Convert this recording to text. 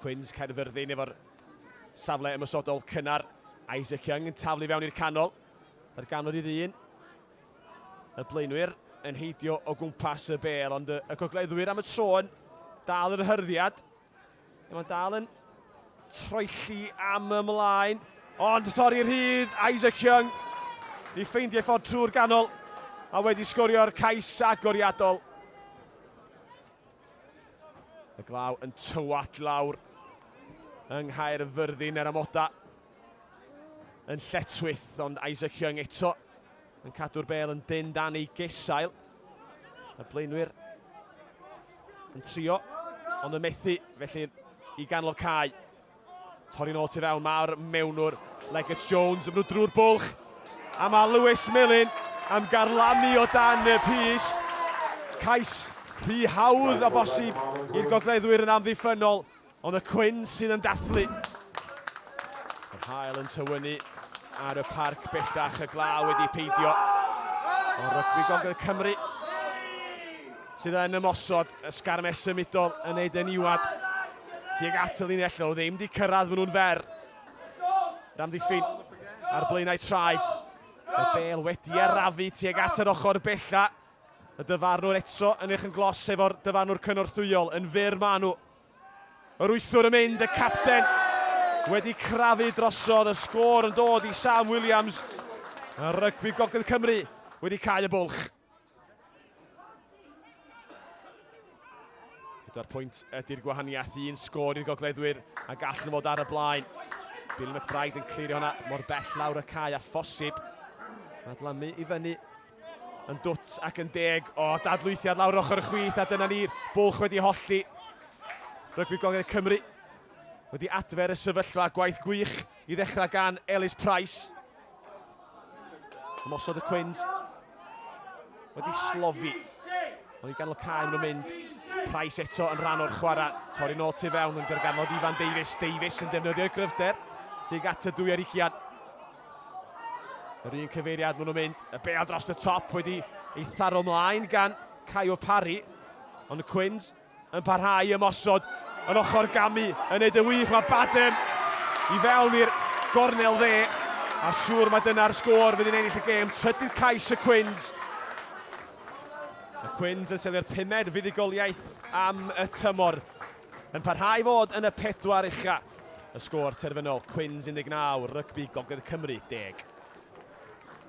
Cwins Caerfyrddin efo'r safle ymosodol cynnar. Isaac Young yn taflu fewn i'r canol. Yr ganod i ddyn. Y blaenwyr yn heidio o gwmpas y bel, ond y, y gogleddwyr am y tro yn dal yr hyrddiad. Mae'n dal yn troelli am ymlaen, ond torri rhydd Isaac Young i ffeindio ffordd trwy'r ganol a wedi sgorio'r cais agoriadol. Y glaw yn tywallt lawr yng Nghaerfyrddin er amoda yn lletwyth, ond Isaac Young eto yn cadw'r bel yn dyn dan ei gesail. Y blaenwyr yn trio, ond yn methu, felly i ganol cae. Torri'n ôl tu fewn, mae'r mewnwr Legets Jones yn mynd drwy'r bwlch. A mae Lewis Millen am garlamu o dan y pist. Cais rhy hawdd a bosib i'r gogleddwyr yn amddiffynnol, ond y cwyn sydd yn dathlu. Yr hael yn tywynu ar y parc bellach y glaw wedi peidio o rygbi Gogledd Cymru sydd yn ymosod y sgarmes symudol yn ei deniwad. Tuag at y linell nhw, ddim di cyrraedd, maen nhw'n fer. Ramddiffyn ar blaenau traed. Y bel wedi arafu tuag at yr ochr bella. Y dyfarnwr eto yn eich yn glos efo'r dyfarnwr cynorthwyol. Yn fyr maen nhw. Yr wythwr yn mynd, y capten wedi crafu drosodd. Y sgôr yn dod i Sam Williams. Y rygbi Gogledd Cymru wedi cael y bwlch. Pedwar pwynt ydy'r gwahaniaeth, un sgôr i'r gogleddwyr a gall nhw fod ar y blaen. Bill McBride yn clirio hwnna mor bell lawr y cae a phosib. Mae dlamu i fyny yn dwt ac yn deg. O, dadlwythiad lawr ochr y chwith a dyna ni'r bwlch wedi hollti. Rygbi Gogledd Cymru wedi adfer y sefyllfa gwaith gwych I ddechrau gan Elis Price. Ymosodd y Cwins. Wedi slofi. Ond i ganol cael nhw'n mynd. Price eto yn rhan o'r chwarae. Torri nôl tu fewn yn dyrganfod Ifan Davies. Davies yn defnyddio'i gryfder. Tig at y dwy ar ugian. Yr un cyfeiriad maen nhw'n mynd. Y bea dros y top wedi ei tharo mlaen gan Caio Parry. Ond y Cwins Yn parhau i ymosod yn ochr Gamy, yn neud yn wych, mae Badham i fewn i'r gornel dde, a siŵr mae dyna'r sgôr fydd yn ennill y gêm, trydydd cais y Cwins. Y Cwins yn selio'r pumed fuddugoliaeth am y tymor, yn parhau i fod yn y pedwar ucha. Y sgôr terfynol, Cwins 19, Rygbi Gogledd Cymru 10.